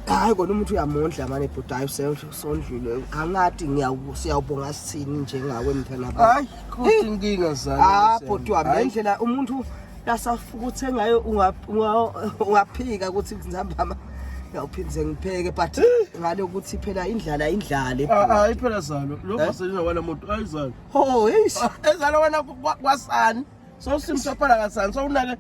hayi kona umuntu uyamondla mane bhuti hayi usondlule angathi siyawubonga sithini njengawe mthana ba hayi kodwa inkinga zami ah bhuti wami ngendlela umuntu lasafukuthe ngayo ungaphika ukuthi ngizambama ngiyawuphinde ngipheke but ngale ukuthi phela indlala indlale ah, ah, hayi phela zalo lokho eh? selina wala muntu ayizalo ho hey ezalo wena kwasani sowusimsaphala kasani sowunake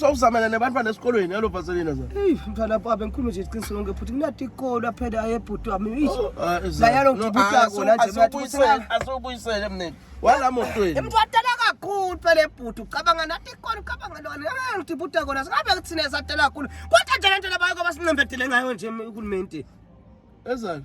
sowuzamela nebantwana esikolweni yalo vaselina za eyi mntwana baba bengikhuluma nje iqiniso lonke futhi kunati ikolo aphele ayebhuti wami oh, ah, layalo ngibutaasoasokuyisele mnene wala motweni mntu watela kakhulu phele bhuti ucabanga nati ikolo ucabanga lona ngiti buta kona singabe kuthina esatela kakhulu kodwa nje le nto labayo kwabasinqembedele ngayo nje uhulumenti ezani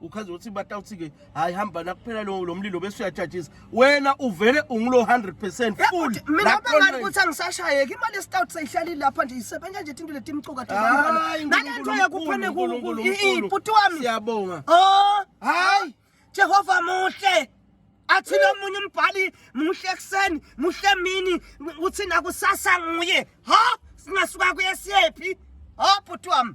uchaza ukuthi batawuthi-ke hhayi hamba nakuphela lo lo mlilo bese uyajajisa wena uvele ungulo 100 percent full mina Lapho bangani nje- ukuthi angisashayeki imali esitawuthi seyihlalile lapha nje isebenza nje into leti imcuka Hayi, nalento yakuphane Nkulunkulu, Nkulunkulu, Nkulunkulu. iputi wami siyabonga oh hayi jehova muhle athi lomunye umbhali muhle ekuseni muhle emini uthi nakusasa nguye ha singasuka kuye siyephi ha bhuti wami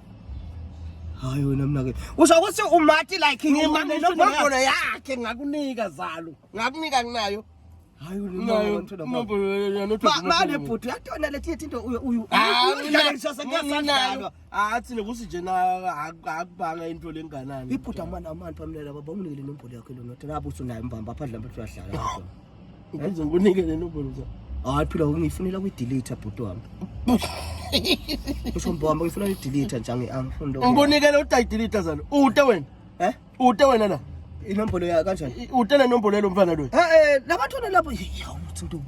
hayi wena mnake usho ukuthi umati like ngimaminombolo yakhe ngakunika zalo ngakunika kunayo mane bhuti uyatona letinye tinto uyudlalisasengiyasandlalwa athi nokuthi nje akubanga into lenganani ibhuti amana amantu amlela baba unike le nombolo yakhe lonothi ngabe usunayo mbamba apha dlambe uyahlala Ngenze ngikunike le number mza. Hayi phila ungifunela ku delete bhuti wami. Usho mbombo ngifuna ku delete nje angifuni lokho. Ngikunike lo tayi delete zalo. Ute wena. Eh? Ute wena la. Inombolo ya kanjani? Ute le nombolo yalo mfana lo. Eh eh labathona lapho. Yawu uthi ntobu.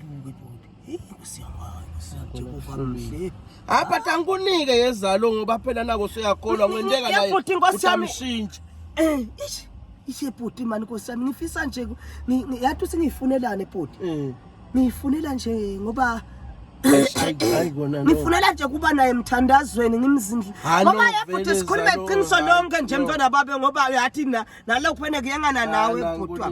apha tankunike yezalo ngoba phela nako suyakholwa ngwenteka naye utamshintsha eh, ishe bhuti mani nkosi yami ngifisa nje yathi uthi ngiyifunelane bhuti eh. ngiyifunela nje ngoba ngifunela nje kuba naye emthandazweni ngimzindli ngoba yebhuti sikhuluma iqiniso lonke nje mntwana babe ngoba yathi nalokhu fene kuyengana nawe bhutwa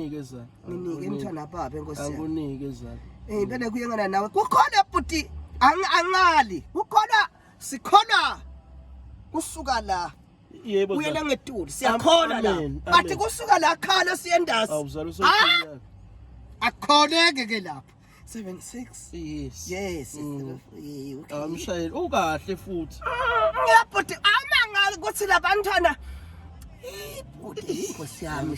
Nginike mthana baba enkosi yami. Angunike zalo. Eh impela kuyengana nawe. Kukhona bhuti angali. Kukhona sikhona kusuka la. Yebo. Uyena ngetuli siyakhona la. Bathi kusuka la khala siyendazi. Awuzalo sokuya. Akhoneke ke lapho. 76 yes yes mm. amshayeli ah, ukahle futhi ngiyabhuti awumangala ukuthi labantwana ibhuti inkosi yami